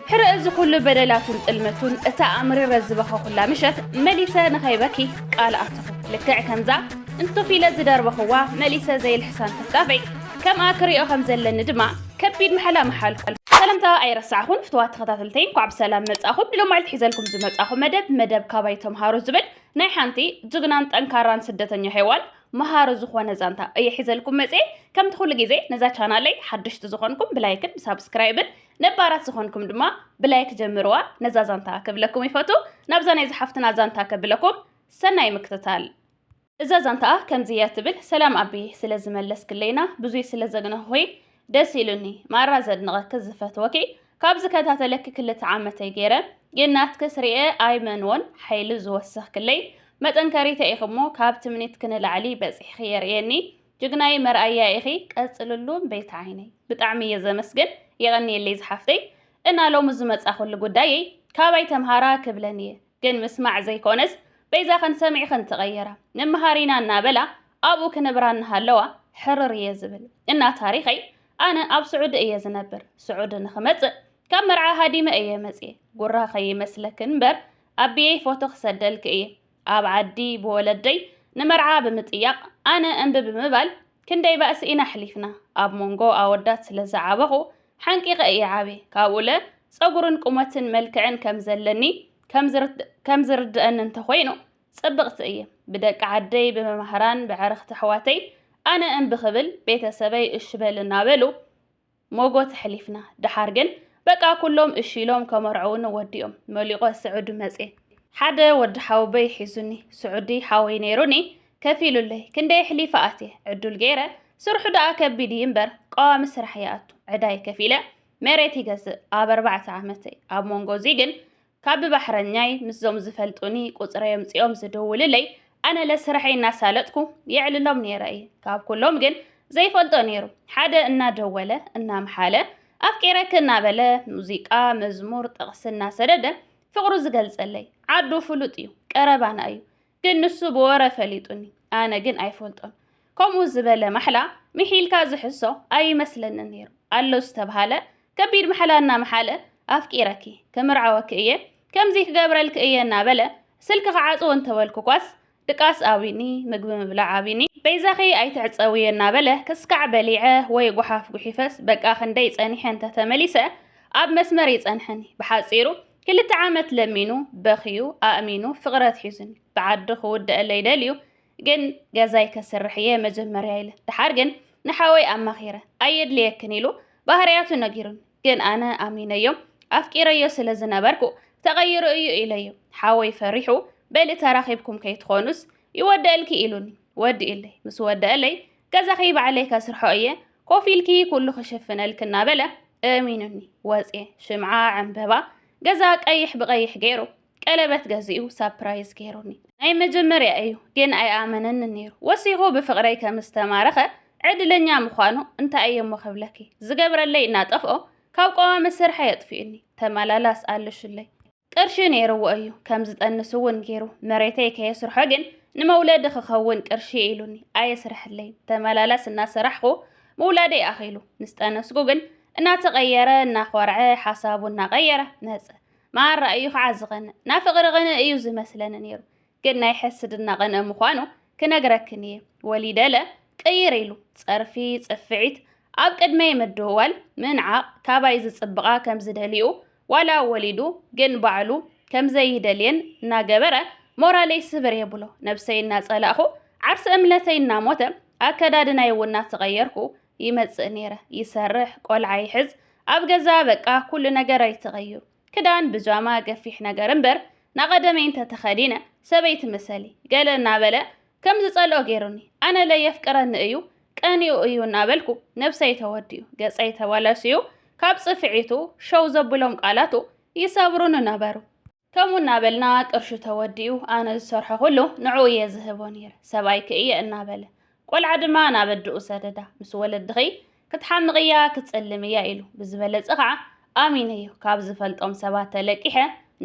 ሕረ እዚ ኩሉ በደላቱን ጥልመቱን እታ ኣምሪረ ዝበኸኹላ ምሸት መሊሰ ንኸይበኪ ቃል ኣተኹ። ልክዕ ከምዛ እንቱፍ ኢለ ዝደርበኹዋ መሊሰ ዘይልሕሳን ትፍጣፈይ ከምኣ ክሪኦ ከም ዘለኒ ድማ ከቢድ ማሕላ መሓልኩ። ሰላምታ ኣይረሳዕኹን ፍትዋት ተኸታተልተይ እንኳዕ ብሰላም መጻኹም። ንሎም መዓልቲ ሒዘልኩም ዝመጻኹ መደብ መደብ ካባይ ተምሃሩ ዝብል ናይ ሓንቲ ጅግናን ጠንካራን ስደተኛ ሄዋን መሃሪ ዝኾነ ዛንታ እየ ሒዘልኩም መጽኤ። ከምቲ ኩሉ ግዜ ነዛ ቻናለይ ሓደሽቲ ዝኾንኩም ብላይክን ብሳብስክራይብን ነባራት ዝኾንኩም ድማ ብላይክ ጀምርዋ ነዛ ዛንታ ክብለኩም ይፈቱ ናብዛ ናይ ዝሓፍትና ዛንታ ከብለኩም ሰናይ ምክትታል እዛ ዛንታኣ ከምዚ እያ ትብል ሰላም ኣቢ ስለ ዝመለስክለይና ብዙይ ስለ ዘግነኹኺ ደስ ኢሉኒ ማራ ዘድንቐኪ ዝፈትወኪ ካብ ዝከታተለኪ ክልተ ዓመተይ ገይረ ግን ናትክስ ርኤ ኣይመንዎን ሓይሊ ዝወሰኽክለይ መጠንከሪተ ኢኺ እሞ ካብ ትምኒትኪ ንላዕሊ በፂሕኺ የርእየኒ ጅግናየ መርኣያ ኢኺ ቀፅልሉ ቤቲ ዓይነይ። ብጣዕሚ እየ ዘመስግን የቐንየለይ ዝሓፍተይ እና ሎሚ ዝመፃኹሉ ጉዳየይ ካባይ ተምሃራ ክብለን እየ ግን ምስማዕ ዘይኮነስ በይዛኽን ሰሚዕኽን ተቐየራ ንመሃር ኢና እናበላ ኣብኡ ክነብራ እናሃለዋ ሕርር እየ ዝብል እና ታሪኸይ ኣነ ኣብ ስዑዲ እየ ዝነብር ስዑዲ ንኽመፅእ ካብ መርዓ ሃዲመ እየ መፅየ ጉራ ከይመስለክን እምበር ኣቢየይ ፎቶ ክሰደልክ እየ ኣብ ዓዲ ብወለደይ ንመርዓ ብምጥያቕ ኣነ እምቢ ብምባል ክንደይ ባእሲ ኢና ኣሕሊፍና። ኣብ ሞንጎ ኣወዳት ስለ ዝዓበኹ ሓንቂቐ እየ ዓብየ። ካብኡለ ጸጉርን ቁመትን መልክዕን ከም ዘለኒ ከም ዝርድኣኒ እንተ ኾይኑ ጽብቕቲ እየ። ብደቂ ዓደይ ብመማህራን ብዕርኽቲ ኣሕዋተይ ኣነ እምቢ ክብል ቤተ ሰበይ እሺ በል እናበሉ ሞጎት ኣሕሊፍና ደሓር ግን በቃ ኩሎም እሺ ኢሎም ከመርዕዉኒ ወዲኦም መሊቆ ስዑዲ መጼ ሓደ ወዲ ሓውበይ ሒዙኒ ስዑዲ ሓወይ ነይሩኒ ከፊሉለይ ክንደይ ኣሕሊፈ ኣትየ ዕዱል ገይረ ስርሑ ደኣ ከቢድ እዩ እምበር ቀዋሚ ስራሕ ይኣቱ ዕዳይ ከፊለ መሬት ይገዝእ ኣብ ኣርባዕተ ዓመተይ ኣብ ሞንጎ እዙይ ግን ካብ ብባሕረኛይ ምስዞም ዝፈልጡኒ ቁጽረይ ኣምጺኦም ዝድውልለይ ኣነ ለስርሐይ እናሳለጥኩ የዕልሎም ነይረ እየ። ካብ ኩሎም ግን ዘይፈልጦ ነይሩ ሓደ እናደወለ እናምሓለ ኣፍቂረኪ እናበለ ሙዚቃ፣ መዝሙር፣ ጥቕሲ እናሰደደ ፍቕሩ ዝገልጸለይ ዓዱ ፍሉጥ እዩ፣ ቀረባና እዩ። ግን ንሱ ብወረ ፈሊጡኒ ኣነ ግን ኣይፈልጦን ከምኡ ዝበለ ማሕላ ምሒልካ ዝሕሶ ኣይመስለንን ነይሩ ኣሎ ዝተብሃለ ከቢድ ማሕላ እናመሓለ ኣፍቂረኪ ክምርዓወኪ እየ ከምዚ ክገብረልኪ እየ እናበለ ስልኪ ክዓፅዎ እንተበልኩኳስ ድቃስ ኣቢኒ ምግቢ ምብላዕ ኣቢኒ በይዛኺ ኣይትዕፀውየ እናበለ ክስካዕ በሊዐ ወይ ጓሓፍ ጉሒፈስ በቃ ክንደይ ፀኒሐ እንተተመሊሰ ኣብ መስመር ይፀንሐኒ ብሓፂሩ ክልተ ዓመት ለሚኑ በኽዩ ኣእሚኑ ፍቕሪ ኣትሒዙኒ ብዓዱ ክውደኣለይ ደልዩ ግን ገዛይ ከስርሕ እየ መጀመርያ ኢለ ድሓር ግን ንሓወይ ኣማኺረ ኣየድልየክን ኢሉ ባህርያቱ ነጊሩኒ ግን ኣነ ኣሚነዮ ኣፍቂረዮ ስለ ዝነበርኩ ተቐይሩ እዩ ኢለዮ ሓወይ ፈሪሑ በሊ ተራኺብኩም ከይትኾኑስ ይወደእልኪ ኢሉኒ ወዲእለይ ምስ ወደእለይ ገዛኺ ባዕለይ ከስርሖ እየ ኮፍ ኢልኪ ኩሉ ክሽፍነልኪ እናበለ እሚኑኒ ወፅየ ሽምዓ ዕምበባ ገዛ ቀይሕ ብቀይሕ ገይሩ ቀለበት ገዚኡ ሳፕራይዝ ገይሩኒ ናይ መጀመርያ እዩ ግን ኣይኣመነኒ ነይሩ ወሲኹ ብፍቅረይ ከም ዝተማረኸ ዕድለኛ ምዃኑ እንታይ እየ እሞ ክብለኪ ዝገብረለይ እናጠፍኦ ካብ ቀዋሚ ስርሐይ ኣጥፊኡኒ ተመላላስ ኣለሽለይ ቅርሺ ነይርዎ እዩ ከም ዝጠንስ እውን ገይሩ መሬተይ ከየስርሖ ግን ንመውለዲ ክኸውን ቅርሺ ኢሉኒ ኣየስርሐለይ ተመላላስ እናሰራሕኹ ምውላደይ ኣኺሉ ምስ ጠነስኩ ግን እናተቐየረ እናኾርዐ ሓሳቡ እናቐየረ መፀ መሃራ እዩ ከዓ ዝቐንእ ናፍቕሪ ቕንእ እዩ ዝመስለኒ ነይሩ ግን ናይ ሕስድና ቅንኢ ምዃኑ ክነግረክን እየ ወሊደለ ቅይር ኢሉ ጸርፊ ጽፍዒት ኣብ ቅድመይ ምድውዋል ምንዓቕ ካባይ ዝጽብቓ ከምዝደልይኡ ዋላ ወሊዱ ግን ባዕሉ ከምዘይደልየን እናገበረ ሞራለይ ስብር የብሎ ነብሰይ እናጸላእኹ ዓርሰ እምነተይ እናሞተ ኣከዳድናይ እውን እናተቐየርኩ ይመጽእ ነይረ ይሰርሕ ቆልዓ ይሕዝ ኣብ ገዛ በቃ ኩሉ ነገረይ ተቐይሩ ክዳን ብጃማ ገፊሕ ነገር እምበር ናቐደመይ እንተ ተኸዲነ ሰበይቲ ምሰሊ ገለ እናበለ ከም ዝጸልኦ ገይሩኒ ኣነለ የፍቅረኒ እዩ ቀኒኡ እዩ እናበልኩ ነብሰይ ተወዲኡ ገጸይ ተባላሽዩ ካብ ጽፍዒቱ ሸው ዘብሎም ቃላቱ ይሰብሩኒ ነበሩ ከምኡ እናበልና ቅርሹ ተወዲኡ ኣነ ዝሰርሖ ኩሉ ንዕኡ እየ ዝህቦ ነይረ ሰብኣይኪ እየ እናበለ ቆልዓ ድማ ናብ ኣድኡ ሰደዳ ምስ ወለድኺ ክትሓምቕ እያ ክትጸልም እያ ኢሉ ብዝበለጸ ኸዓ ኣሚነዮ ካብ ዝፈልጦም ሰባት ተለቂሐ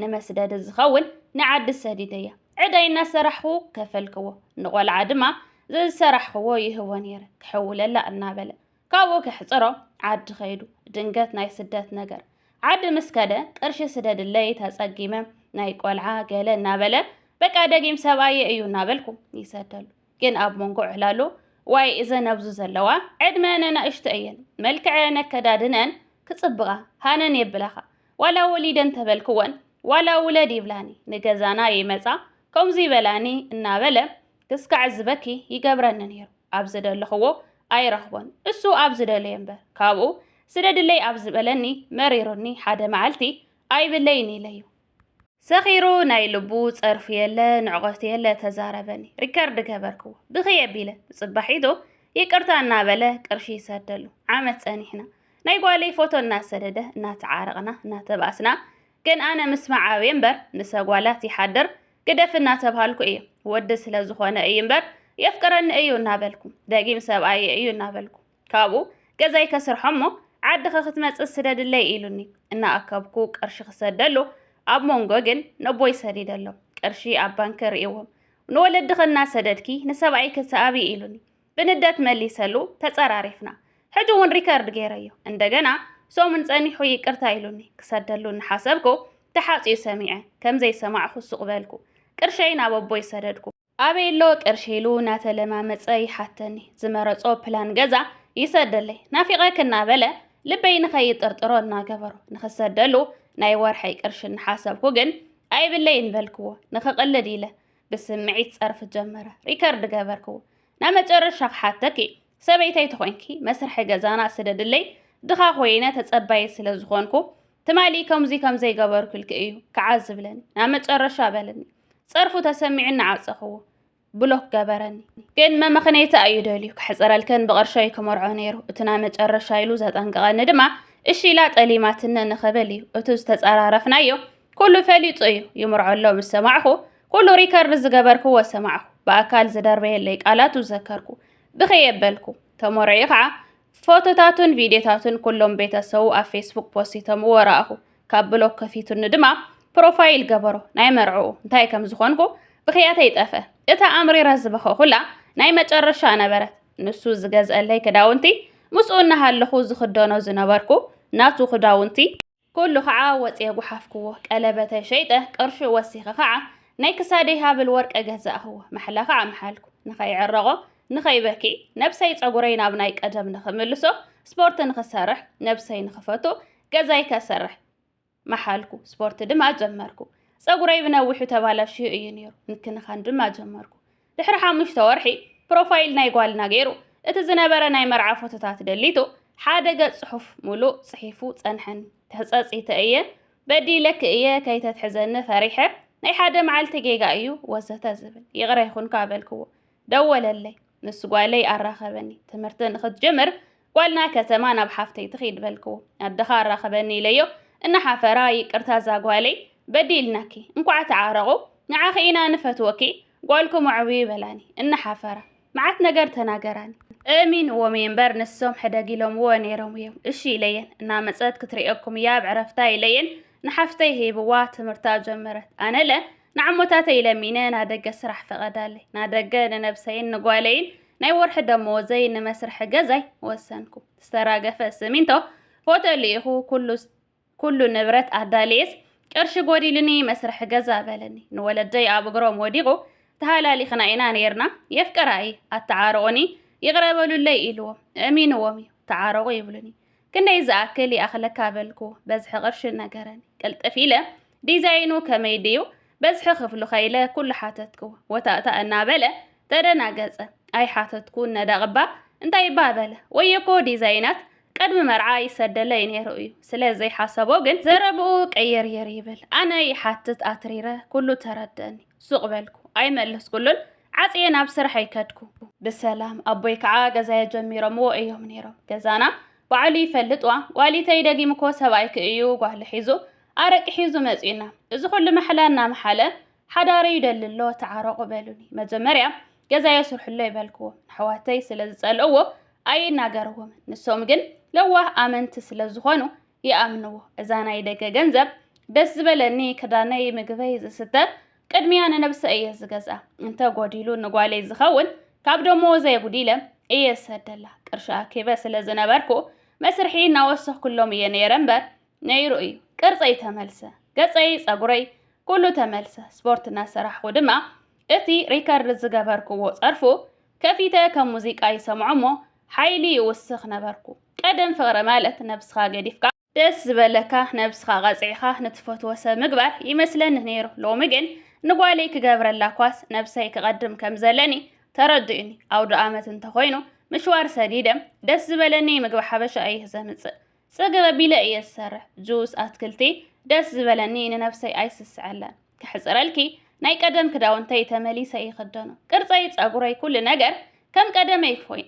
ንመስደዲ ዝኸውን ንዓዲ ሰዲደያ ዕዳይ እናሰራሕኹ ከፈልክዎ ንቖልዓ ድማ ዘዝሰራሕኽዎ ይህቦ ነይረ ክሕውለላ እናበለ ካብኡ ከሕፅሮ ዓዲ ኸይዱ ድንገት ናይ ስደት ነገር ዓዲ ምስ ከደ ቅርሺ ስደድለይ ተጸጊመ ናይ ቆልዓ ገለ እናበለ በቃ ደጊም ሰብኣየ እዩ እናበልኩ ይሰደሉ ግን ኣብ መንጎ ዕላሉ ዋይ እዘን ኣብዚ ዘለዋ ዕድመ ነናእሽቶ እየን መልክዐ ነከዳድነን ክጽብቓ ሃነን የብላኻ ዋላ ወሊደን ተበልክወን ዋላ ውለድ ይብላኒ ንገዛና ይመጻ ከምዚ ይበላኒ እናበለ ክስካዕ ዝበኪ ይገብረኒ ነይሩ ኣብ ዝደለኽዎ ኣይረኽቦን እሱ ኣብ ዝደለየ እምበር ካብኡ ስደድለይ ኣብ ዝበለኒ መሪሩኒ ሓደ መዓልቲ ኣይብለይን ኢለዩ ሰኺሩ ናይ ልቡ ጸርፉ የለ ንዕቐቱ የለ ተዛረበኒ ሪከርድ ገበርክዎ ብኽይ ኣቢለ ብጽባሒቱ ይቅርታ እናበለ ቅርሺ ይሰደሉ ዓመት ጸኒሕና ናይ ጓለይ ፎቶ እናሰደደ እናተዓረቕና እናተባእስና ግን ኣነ ምስማዕ ኣብየ እምበር ምሰ ጓላት ይሓድር ግደፍ እናተብሃልኩ እየ ወዲ ስለ ዝኾነ እዩ እምበር የፍቅረኒ እዩ እናበልኩ ደጊም ሰብኣየ እዩ እናበልኩ ካብኡ ገዛይ ከስርሖ እሞ ዓድኺ ክትመጽእ ስደድለይ ኢሉኒ እናኣከብኩ ቅርሺ ክሰደሉ ኣብ ሞንጎ ግን ነቦይ ሰዲደሎም ቅርሺ ኣብ ባንኪ ርእዎም ንወለድኺ እናሰደድኪ ንሰብኣይኪ ሰኣቢ ኢሉኒ ብንደት መሊሰሉ ተጸራሪፍና ሕጂ እውን ሪከርድ ገይረዮ እንደገና ሰሙን ጸኒሑ ይቅርታ ኢሉኒ ክሰደሉ እናሓሰብኩ ተሓጽዩ ሰሚዐ ከምዘይሰማዕኹ ሱቕ በልኩ ቅርሸይ ናብ ኣቦይ ሰደድኩ ኣበየሎ ቅርሺ ኢሉ ናተለማመጸ ይሓተኒ ዝመረጾ ፕላን ገዛ ይሰደለይ ናፊቐክ እናበለ ልበይ ንኸይጥርጥሮ እናገበሮ ንኽሰደሉ ናይ ወርሐይ ቅርሺ እናሓሰብኩ ግን ኣይብለይን በልክዎ ንኽቕልድ ኢለ ብስምዒት ጸርፍ ጀመረ ሪከርድ ገበርክዎ ናብ መጨረሻ ክሓተኪ ሰበይተይ ተኾይንኪ መስርሒ ገዛና ስደድለይ ድኻ ኮይነ ተጸባየ ስለ ዝኾንኩ ትማሊ ከምዚ ከም ዘይገበርኩልኪ እዩ ክዓ ዝብለኒ ናብ መጨረሻ በለኒ ጸርፉ ተሰሚዑ እናዓጸኽዎ ብሎክ ገበረኒ። ግን መመኽነይታ እዩ ደልዩ ከሕጽረልከን ብቕርሸይ ክመርዖ ነይሩ እቲ ናይ መጨረሻ ኢሉ ዘጠንቀቐኒ ድማ እሺ ኢላ ጠሊማትነ ንኽብል እዩ እቲ ዝተጸራረፍናዮ ኩሉ ፈሊጡ እዩ ይምርዖ ኣሎ ምስ ሰማዕኹ ኩሉ ሪከርድ ዝገበርክዎ ሰማዕኹ ብኣካል ዝደርበየለይ ቃላቱ ዘከርኩ ብኸይ የበልኩ ተመርዒ ከዓ ፎቶታቱን ቪድዮታቱን ኩሎም ቤተሰቡ ኣብ ፌስቡክ ፖስቶምዎ ረኣኹ ካብ ብሎክ ከፊቱኒ ድማ ፕሮፋይል ገበሮ ናይ መርዕኡ እንታይ ከም ዝኾንኩ ብኽያተይ ጠፍአ እታ ኣምሪረ ዝበኸኹላ ናይ መጨረሻ ነበረት ንሱ ዝገዝአለይ ክዳውንቲ ምስኡ እናሃለኹ ዝኽደኖ ዝነበርኩ ናቱ ክዳውንቲ ኩሉ ከዓ ወፅየ ጉሓፍክዎ ቀለበተይ ሸይጠ ቅርሹ ወሲኸ ከዓ ናይ ክሳደይ ሃብል ወርቀ ገዛእኽዎ ማሕላ ከዓ መሓልኩ ንኸይዕረቆ ንኸይበኪ ነብሰይ ፀጉረይ ናብ ናይ ቀደም ንኽምልሶ ስፖርት ንኽሰርሕ ነብሰይ ንኽፈቱ ገዛይ ከሰርሕ መሓልኩ። ስፖርት ድማ ጀመርኩ። ጸጉረይ ብነዊሑ ተባላሽዩ እዩ ነይሩ። ምክንኻን ድማ ጀመርኩ። ድሕሪ ሓሙሽተ ወርሒ ፕሮፋይል ናይ ጓልና ገይሩ እቲ ዝነበረ ናይ መርዓ ፎቶታት ደሊቱ ሓደ ገጽ ጽሑፍ ሙሉእ ጽሒፉ ጸንሐን ተጸጺተ እየ በዲለክ እየ ከይተትሕዘኒ ፈሪሐ ናይ ሓደ መዓልቲ ጌጋ እዩ ወዘተ ዝብል ይቕረ ይኹንካ በልክዎ ደወለለይ። ምስ ጓለይ ኣራኸበኒ። ትምህርቲ ንኽትጅምር ጓልና ከተማ ናብ ሓፍተይ ትኺድ በልክዎ። ኣደኻ ኣራኸበኒ ኢለዮ። እናሓፈራ ይቅርታ ዛጓለይ በዲልናኪ። እንኳዕ ተዓረቑ። ንዓኺ ኢና ንፈትወኪ። ጓልኩም ኣዕብዩ በላኒ። እናሓፈራ። መዓት ነገር ተናገራኒ። እሚንዎም እየ እምበር ንሶም ሕደግ ኢሎምዎ ነይሮም እዮም። እሺ ኢለየን። እናመፀት ክትርእየኩም እያ ኣብ ዕረፍታ ኢለየን ንሓፍተይ ሂብዋ ትምህርታ ጀመረት። ኣነለ ንዓሞታተይ ለሚነ ናደገ ስራሕ ፈቐዳለይ። ናደገ ንነብሰይን ንጓለይን ናይ ወርሒ ደመወዘይ ንመስርሒ ገዛይ ወሰንኩ። ዝተራገፈ ስሚንቶ፣ ፎቶ ልኢኹ ኩሉ ኩሉ ንብረት ኣዳልየስ ቅርሺ ጎዲሉኒ መስርሒ ገዛ በለኒ። ንወለደይ ኣብ እግሮም ወዲቑ ተሃላሊኽና ኢና ነይርና፣ የፍቅራ እየ፣ ኣተዓርቑኒ፣ ይቕረ በሉለይ ኢልዎም። እሚንዎም እዩ። ተዓረቑ ይብሉኒ። ክንደይ ዝኣክል ይኣኽለካ በልኩ በዝሒ ቅርሺ ነገረኒ ቅልጥፍ ኢለ ዲዛይኑ ከመይ ድዩ በዝሒ ክፍሉ ከኢለ ኩሉ ሓተትኩ ወታእታእ እናበለ ተደናገጸ ኣይሓተትኩን ነዳቕባ እንታይባ በለ ወየኮ ዲዛይናት ቅድሚ መርዓ ይሰደለይ ነይሩ እዩ ስለ ዘይሓሰቦ ግን ዘረብኡ ቀየርየር ይብል ኣነ ይሓትት ኣትሪረ ኩሉ ተረደኒ ሱቕ በልኩ ኣይመለስኩሉን ዓጽየ ናብ ስርሐይ ከድኩ። ብሰላም ኣቦይ ከዓ ገዛየ ጀሚሮምዎ እዮም ነይሮም። ገዛና ባዕሉ ይፈልጥ ዋ ዋሊተይ ደጊምኮ ሰብኣይኪ እዩ ጓሉ ሒዙ ኣረቂ ሒዙ መጺኡና እዚ ኩሉ መሕላ እናመሓለ ሓዳረዩ ደሊ ኣሎ ተዓረቑ በሉኒ። መጀመርያ ገዛየ ስርሑሎ ይበልክዎ ኣሕዋተይ ስለ ዝጸልእዎ ኣይናገርዎምን ንሶም ግን ለዋህ ኣመንቲ ስለ ዝኾኑ ይኣምንዎ እዛ ናይ ደገ ገንዘብ ደስ ዝበለኒ ክዳነይ ምግበይ ዝስተ ቅድሚያ ንነብሰ እየ ዝገዝኣ እንተ ጎዲሉ ንጓለይ ዝኸውን ካብ ደሞ ዘየጉዲለ እየ ዝሰደላ ቅርሺ ኣኪበ ስለ ዝነበርኩ መስርሒ እናወሰኽኩሎም እየ ነይረ እምበር ነይሩ እዩ ቅርፀይ ተመልሰ ገፀይ ፀጉረይ ኩሉ ተመልሰ ስፖርት እናሰራሕኹ ድማ እቲ ሪከርድ ዝገበርክዎ ፀርፉ ከፊተ ከም ሙዚቃ ይሰምዖ እሞ ሓይሊ ይውስኽ ነበርኩ ቀደም ፍቕሪ ማለት ነብስኻ ገዲፍካ ደስ ዝበለካ ነብስኻ ቀጽዒኻ ንትፈትዎ ሰብ ምግባር ይመስለኒ ነይሩ ሎሚ ግን ንጓለይ ክገብረላ ኳስ ነብሰይ ክቐድም ከም ዘለኒ ተረዲኡኒ ኣውደኣመት እንተኾይኑ ምሽዋር ሰዲደ ደስ ዝበለኒ ምግቢ ሓበሻ እየ ዘምጽእ ጽግብ ኣቢለ እየ ዝሰርሕ ጁስ ኣትክልቲ ደስ ዝበለኒ ንነብሰይ ኣይስስዐላን ከሕጽረልኪ ናይ ቀደም ክዳውንተይ ተመሊሰ ይኽደኖ ቅርጸይ ጸጉረይ ኩሉ ነገር ከም ቀደመይ ፎይን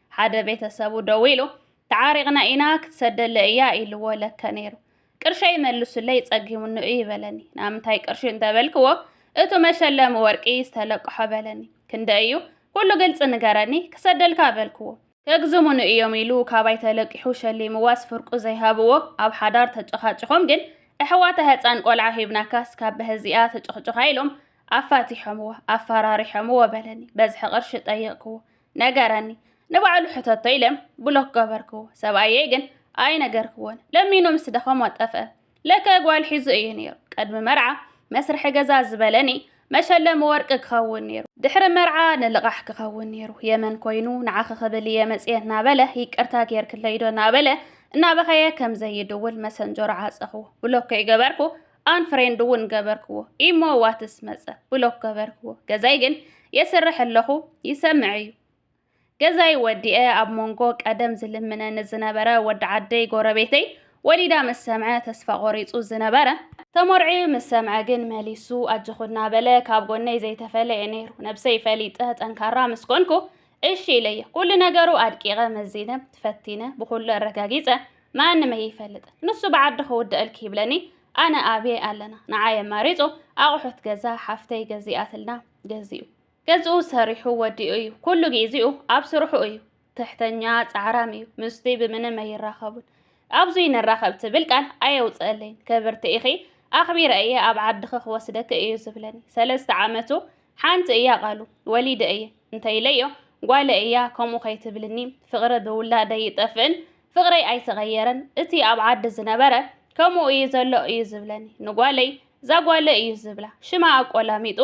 ሓደ ቤተሰቡ ደዊሉ ተዓሪቕና ኢና ክትሰደለይ እያ ኢልዎ ለከ ነይሩ። ቅርሸይ መልሱለይ ጸጊሙኒ እዩ በለኒ። ናምንታይ ቅርሺ እንተበልክዎ እቱ መሸለሚ ወርቂ ዝተለቅሖ በለኒ። ክንደይ እዩ? ኩሉ ግልፂ ንገረኒ ክሰደልካ በልክዎ። ከግዝሙኒ እዮም ኢሉ ካባይ ተለቂሑ ሸሊምዋስ ፍርቁ ዘይሃብዎ ኣብ ሓዳር ተጨኻጭኾም ግን እሕዋታ ህፃን ቆልዓ ሂብናካስ ካብ በህዚኣ ትጭኽጭኻ ኢሎም ኣፋቲሖምዎ ኣፋራሪሖምዎ በለኒ። በዝሒ ቅርሺ ጠየቕክዎ። ነገረኒ ንባዕሉ ሕተቶ ኢለ ብሎክ ገበርክዎ ሰብኣየይ ግን ኣይነገርክዎን ለሚኑ ምስ ደኸሞ ጠፍአ ለከ ጓል ሒዙ እዩ ነይሩ ቅድሚ መርዓ መስርሒ ገዛ ዝበለኒ መሸለሚ ወርቂ ክኸውን ነይሩ ድሕሪ መርዓ ንልቓሕ ክኸውን ነይሩ የመን ኮይኑ ንዓኺ ክብል እየ መፅየ እናበለ ይቅርታ ጌርክለይዶ እናበለ እናበኸየ ከም ዘይድውል መሰንጀሮ ዓፀኹዎ ብሎክ ከይገበርኩ ኣንፍሬንድ እውን ገበርክዎ። ኢሞ ዋትስ መጸ፣ ብሎክ ገበርክዎ። ገዛይ ግን የስርሕ ኣለኹ ይሰምዕ እዩ። ገዛይ ወዲኤ ኣብ መንጎ ቀደም ዝልምነኒ ዝነበረ ወዲ ዓደይ ጎረቤተይ ወሊዳ ምስ ሰምዐ ተስፋ ቆሪጹ ዝነበረ ተመርዕዩ ምስ ሰምዐ ግን መሊሱ ኣጆኹ እናበለ ካብ ጎነይ ዘይተፈለየ ነይሩ። ነብሰይ ፈሊጠ ጠንካራ ምስ ኮንኩ እሺ ኢለየ ኩሉ ነገሩ ኣድቂቐ መዚነ ፈቲነ ብኹሉ ኣረጋጊጸ ማንም ኣይፈልጥን ንሱ ብዓዲ ክውደኣልኪ ይብለኒ ኣነ ኣብየ ኣለና ንዓይ ኣማሪጹ ኣቑሑት ገዛ ሓፍተይ ገዚኣትልና ገዚኡ ገዝኡ ሰሪሑ ወዲኡ እዩ ኩሉ ግዜኡ ኣብ ስርሑ እዩ ትሕተኛ ጻዕራም እዩ ምስቲ ብምንም ኣይራኸቡን ኣብዙይ ንራኸብ ትብል ቃል ኣየውፅእለይን ክብርቲ ኢኺ ኣኽቢረ እየ ኣብ ዓድኺ ክወስደኪ እዩ ዝብለኒ ሰለስተ ዓመቱ ሓንቲ እያ ቃሉ ወሊደ እየ እንተይለዮ ጓለ እያ ከምኡ ከይትብልኒ ፍቕሪ ብውላደይ ይጠፍእን ፍቕረይ ኣይተቐየረን እቲ ኣብ ዓዲ ዝነበረ ከምኡ እዩ ዘሎ እዩ ዝብለኒ ንጓለይ ዛጓለ እዩ ዝብላ ሽማ ኣቆላሚጡ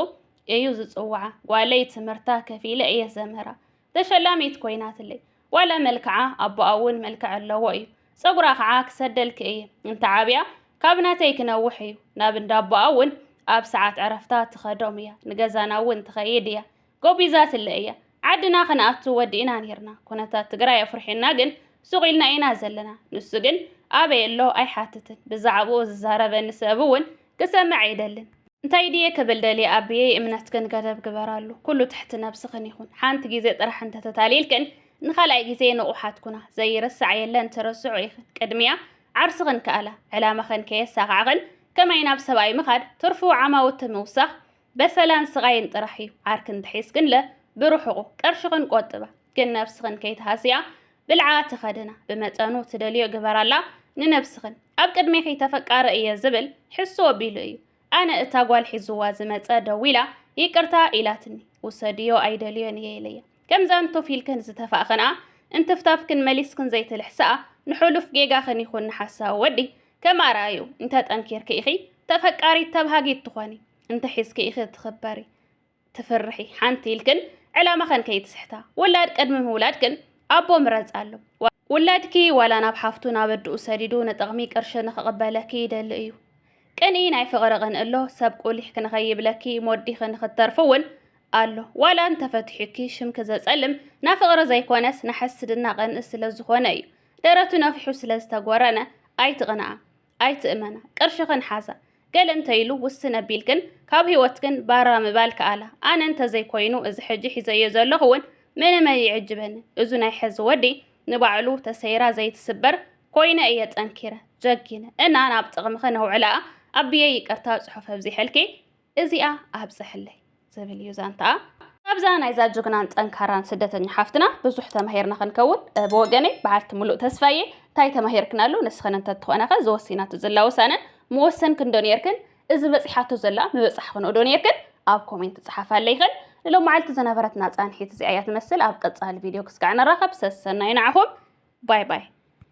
እዩ ዝጽውዓ ጓለይ ትምህርታ ከፊለ እየ ዘምህራ ተሸላሚት ኮይናትለይ ዋላ መልክዓ ኣቦኣ እውን መልክዕ ኣለዎ እዩ ፀጉራ ከዓ ክሰደልኪ እየ እንተዓብያ ካብ ናተይ ክነውሕ እዩ ናብ እንዳቦኣ እውን ኣብ ሰዓት ዕረፍታ ትኸዶም እያ ንገዛና እውን ትኸይድ እያ ጎቢዛትለ እያ ዓድና ክንኣቱ ወዲእና ኔርና ኩነታት ትግራይ ኣፍሪሑና ግን ሱቕ ኢልና ኢና ዘለና ንሱ ግን ኣበይ ኣሎ ኣይሓትትን ብዛዕብኡ ዝዛረበኒ ሰብ እውን ክሰምዕ ኣይደልን እንታይ ድየ ክብል ደልየ ኣቢየይ እምነትክን ገደብ ግበራሉ ኩሉ ትሕቲ ነብስኽን ይኹን ሓንቲ ግዜ ጥራሕ እንተተታሊልክን ንኻልኣይ ግዜ ንቑሓት ኩና ዘይርሳዕ የለን ትረስዑ ኢኽን ቅድሚያ ዓርስኽን ከኣላ ዕላማኽን ከየሳኻዕኽን ከመይ ናብ ሰብኣይ ምኻድ ትርፉ ዓማውቲ ምውሳኽ በሰላን ስቓይን ጥራሕ እዩ። ዓርኪ እንተሒዝክንለ ብርሑቑ፣ ቅርሽኽን ቆጥባ፣ ግን ነብስኽን ከይትሃስያ፣ ብልዓ ተኸድና፣ ብመጠኑ ትደልዮ ግበራላ፣ ንነብስኽን። ኣብ ቅድሜኺ ተፈቃሪ እየ ዝብል ሕሱ ኣቢሉ እዩ። ኣነ እታ ጓል ሒዙዋ ዝመጸ ደዊላ ይቅርታ ኢላትኒ፣ ውሰድዮ ኣይደልዮን እየ ኢለያ። ከምዛን ቶፍ ኢልክን ዝተፋእኽንኣ እንትፍታፍክን መሊስክን ዘይትልሕስኣ ንሑሉፍ ጌጋኽን ይኹን ንሓሳዊ ወዲ ከም ኣርኣይኡ እንተ ጠንኪርኪ ኢኺ ተፈቃሪት ተብሃጊት ትኾኒ እንተ ሒዝኪ ኢኺ ትኽበሪ ትፍርሒ ሓንቲ ኢልክን ዕላማኽን ከይትስሕታ ውላድ ቅድሚ ምውላድክን ኣቦ ምረጽ ኣሎ ውላድኪ ዋላ ናብ ሓፍቱ ናብ ኣድኡ ሰዲዱ ንጥቕሚ ቅርሺ ንኽቕበለኪ ይደሊ እዩ ቅንኢ ናይ ፍቕሪ ቕንእሎ ሰብ ቁሊሕክ ንኸይብለኪ ሞዲኺ ንኽትተርፊ እውን ኣሎ ዋላ እንተፈትሑኪ ሽምኪ ዘጸልም ናፍቕሪ ዘይኮነስ ናሕስድና ቅንኢ ስለ ዝኾነ እዩ ደረቱ ነፊሑ ስለ ዝተጎረነ ኣይትቕንኣ ኣይትእመና ቅርሽኽን ሓዛ ገለ እንተይሉ ውስን ኣቢልክን ካብ ህይወትክን ባራ ምባል ከኣላ ኣነ እንተዘይኮይኑ እዚ ሕጂ ሒዘዮ ዘለኹ እውን ምንም ኣይዕጅበኒ እዙ ናይ ሕዚ ወዲ ንባዕሉ ተሰይራ ዘይትስበር ኮይነ እየ ጠንኪረ ጀጊነ እና ናብ ጥቕምኽን ኣውዕላኣ ኣቢየ ይቅርታ ጽሑፍ ኣብዚሐልኪ እዚኣ ኣብጽሕለይ ዝብል እዩ ዛንታኣ። ካብዛ ናይዛ ጅግናን ጠንካራን ስደተኛ ሓፍትና ብዙሕ ተማሂርና ክንከውን ብወገነይ በዓልቲ ምሉእ ተስፋ እየ። እንታይ ተማሂርክናሉ? ንስኽን እንተትኾናኸ እዚ ወሲናቶ ዘላ ውሳነ ምወሰንክንዶ ኔርክን? እዚ በጺሓቶ ዘላ ምበጻሕክንኦዶ ኔርክን? ኣብ ኮሜንት ጽሓፋለይክን። ንሎማዓልቲ ዝነበረትና ጻንሒት እዚኣ እያ ትመስል። ኣብ ቀጻሊ ቪድዮ ክስጋዕ ንራኸብ። ሰሰናዩ ንዓኹም። ባይ ባይ።